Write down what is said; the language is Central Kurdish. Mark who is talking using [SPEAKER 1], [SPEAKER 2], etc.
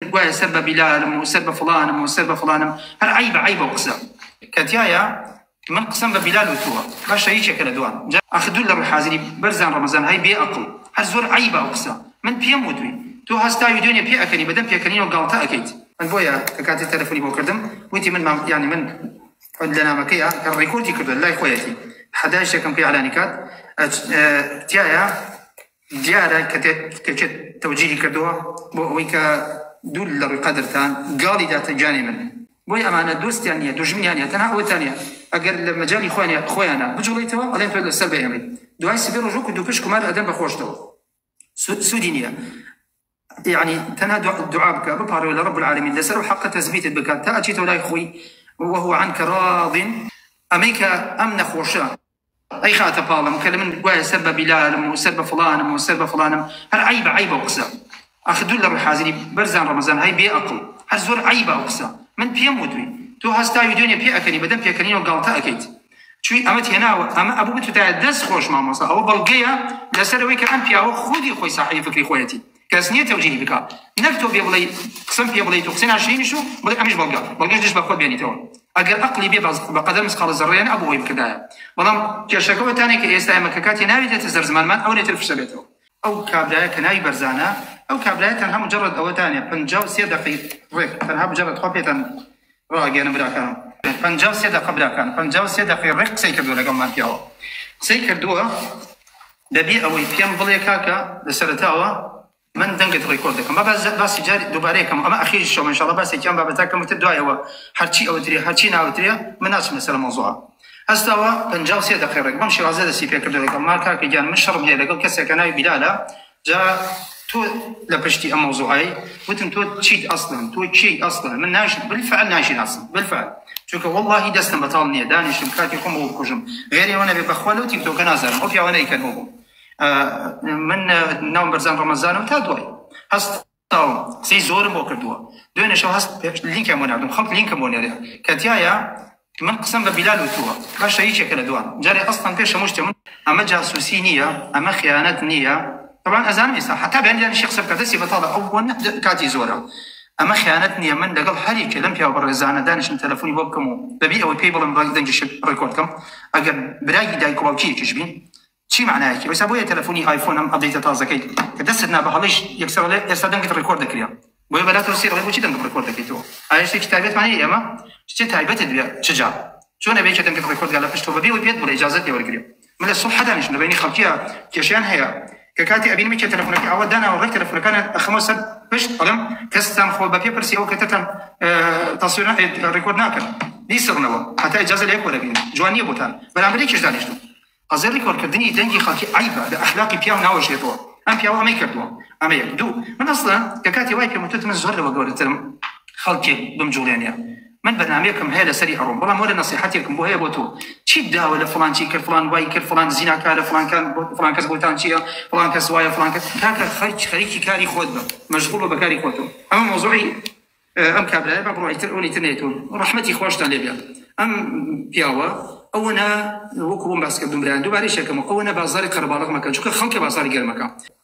[SPEAKER 1] گوایە سەر بە بیلالم و سەر بە فڵانم و سەر بە فڵانم هەر عەیبە عەیبە و قسە کە تیایە من قسەم بە بیلال و تۆوە باشە یەکێکە لە دوان جا ئاخ دوور لە ڕووی حازری بەرزان ڕەمەزان های بێ ئەقڵ هەر زۆر عەیبە ئەو قسە من پێم وتوی تۆ هەستا ڤیدیۆ نیە پێ ئەکەنی بەدەم پێکەنینەوە گاڵتە ئەکەیت من بۆیە کە کاتی تەلەفونی بۆ کردم وتی من مام یانی من لە نامەکەیە کە ڕیکۆردی کردوە لای خۆیەتی حەدای شەکەم کە ئیعلانی کات تیایە دیارە کە تێکێت تەوجیهی کردووە بۆ ئەوەی کە دوور لە ڕووی قەدرتان گاڵی داتە گیانی من، بۆیە ئەمانە دۆستیان نییە دوژمنیان نییە تەنها ئەوەتان هەیە ئەگەر لە مەجالی خۆیان خۆیانا بجوڵێیتەوە ئەڵێن تۆ لەسەر بەیەمەی دوای سبەی ڕۆژ وەکو دووپشک کومار ئەدەن بە خۆشتەوە سوودی نییە یعنی تەنها دوعا بکە بپارەوە لە ڕب العالمین لەسەر و حەقە تەزبیتت بکات تا ئەچیتەوە لای خۆی وهو عنك راض ئەمەی کە ئەم نەخۆشە ئەیخاتە پاڵم کە من گوایە سەر بە بیلالم و سەر بە فڵانم و سەر بە فڵانم هەر عیبە عیبە و قسە ئەخ دوور لە ڕووی حازری بەرزان ڕەمەزان هەی بێ ئەقڵ هەر زۆر عیبە و قسە من پێم وتوی تۆ هەستاوی دوێنێ پێ ئەکەنی بەدەم پێکەنینەوە گاڵتە ئەەکەیت چوی ئەمەت هێناوە ئەمە ئەبوو بتوتایە دەست خۆش مامۆسا ئەوە بەڵگەیە لەسەرەوەی کە ئەم پیاوە خودی خۆی ساحەی فکری خۆیەتی کەس نیە تەوجیهی بکا نەک تۆ بێ بڵێی قسەم پێ بڵێیت و قسەی ناشرینیش و بڵێ ئەمیش بەڵگە بەڵگەش دژ بە خۆت بێنیتەوە ئەگەر ئەقڵی بێ بەس بە قەدەر مسقاڵ زەڕەیەن ئەبوو ئەوی بکردایە بەڵام کێشەکە ئەوەتانێ کە ئێستا ئێمە کە کاتی ناوی دێتە سەر زمانمان ئەو لێتر فشە بێتەوە. ئەو کابرایە کە ناوی بەرزانە ئەو کابرایە تەنها مجەڕەد ئەوەتانێ پەنجا و سێ دەقەی ڕێک تەنها مجەڕەد خوا پێتان ڕاگەیەنم براکانم پەنجا و سێ دەقە براکانم پەنجا و سێ دەقەی ڕێک قسەی کردووە لەگەڵمان پیاوە قسەی کردووە لەبێ ئەوەی پێم بڵێ کاکە لە سەرەتاوە من دەنگت ڕیکۆرد دەکەم با باس باسی جاری دووبارەیە کەم ئەمە ئەخیری شەوە ان شاء الله باسێکی ئەم بابەتە کەم وتر دوایەوە هەرچی ئەوترێ هەرچی ناوترێ من ناچم لەسەر مەوزوعە هەستاوە 53 دقیقە ڕێک بەم شێوازە دەستی پێ کردەوە گەڵما کاکە گیان من شەڕم هەیە لەگەڵ کەسێکە ناوی بیلالە جا تۆ لە پشتی ئەم مەوزوعەی وتم تۆ چیت ئەسڵەن تۆ کێی ئەسڵەن من ناش بالفعل ناشیناسم بالفعل چونکە واللهی دەستم بەتاڵ نییە دانیشتم کاتی خۆم بۆ بکوژم غێر ئێوە نەبێ بەخوا لەو تیکتۆکە نازانم ئەو پیاوانە ئیکەن بۆ بووم من ناوم بەرزان ڕەمەزانم تا دوای هەست قسەی زۆرم بۆ کردووە دوێنێشەوە هەست لینکم بۆ ناردم خەڵک لینکم بۆ نێرێ کە تایە من قسەم بە بیلال وتووە باشە یەکێکە لە دوان جارێ ئەسڵەن پێش هەموو شتێ من ئەمە جاسووسی نییە ئەمە خیانەت نییە تەبان ئەزانم ئێستا حەتا بەیان بیلال شێخ قسە بکات دەستی بەتاڵە ئەو بۆ نە کاتی زۆرە ئەمە خیانەت نییە من لەگەڵ هەر یەکێ لەم پیاو بەڕێزانە دانیشم تەلەفۆنی بۆ بکەم و بەبێ ئەوەی پێی بڵێم ڕای دەنگی شت ڕێکۆرد کەم ئەگەر برای دایک و باوکی یەکیش بین چی مەعنایەکی ئەوسا بۆیە تەلەفونی ئایفۆن ئەم ئەبدەیتە تازەکەی کە دەستت نا بە هەڵەیش یەکسەر ئەڵێ ئێستا دەنگت ڕیکۆرد دەکرێ بۆیە بەلات ئەوسی ئەڵێ بۆچی دەنگم ڕیکۆرد دەکەیتەوە ئایا شتێکی تایبەتمانە هی ئێمە شتێ تایبەتت بێ چ جا چۆن ئەبێ کە دەنگت ڕیکۆرد گا لە پشتەوە بەبێ ئەوەی پێت بڵێ ئیجازەت لێ وەرگرێ من لە سوبحە دانیشم لە بەینی خەڵکیا کێشەیان هەیە کە کاتی ئەبینم کێ تەلەفونەکەی ئاوا داناوە ڕێک تەلەفونەکانیان ئەخەمە سەر پشت ئەڵێم کەستان خۆ بە پێ پرسی ئەو کەتەتان تەسویرە ڕیکۆرد ناکەن بیسڕنەوە هەتا ئیجازە لە یەک وەرەگرن جوان نییە بۆتان بەرامبەر یەکیش دانیشتم قەزێ ڕیکۆرد کردنی دەنگی خەڵکی عەیبە لە ئەخلاقی پیاو ناوەشێتەوە ئەم پیاوە ئەمەی کردووە ئەمە یەک دوو من ئەسڵەن کە کاتی وای پێم وتت من زۆر لەوە گەورەترم خەڵکێک بمجوڵێنێ من بەرنامەیەکم هەیە لەسەری ئەڕۆم بەڵام وەرە نەسیحەتێکم بۆ هەیە بۆ تۆ چیت داوە لە فڵان چی کرد فڵان وای کرد فڵان زیناکارە فڵانکان فڵان کەس بۆتان چییە فڵان کەس وایە فڵان کەس کاکە خەرج خەریکی کاری خۆت بە مەشغوڵ بە بەکاری خۆتەوە ئەمە مۆزوعی ئەم کابرایە با بڕۆ ئیتر ئەونی تر نەیتون ڕەحمەتی خواشتان لێ بێت ئەم پیاوە ئەوەنە وەکو بۆم باس کردم برایان دووبارەی شەکەمەوە ئەوەنە بازاری قەرەباڵغ مەکەن چونکە خەڵکە بازاری گەرمەکە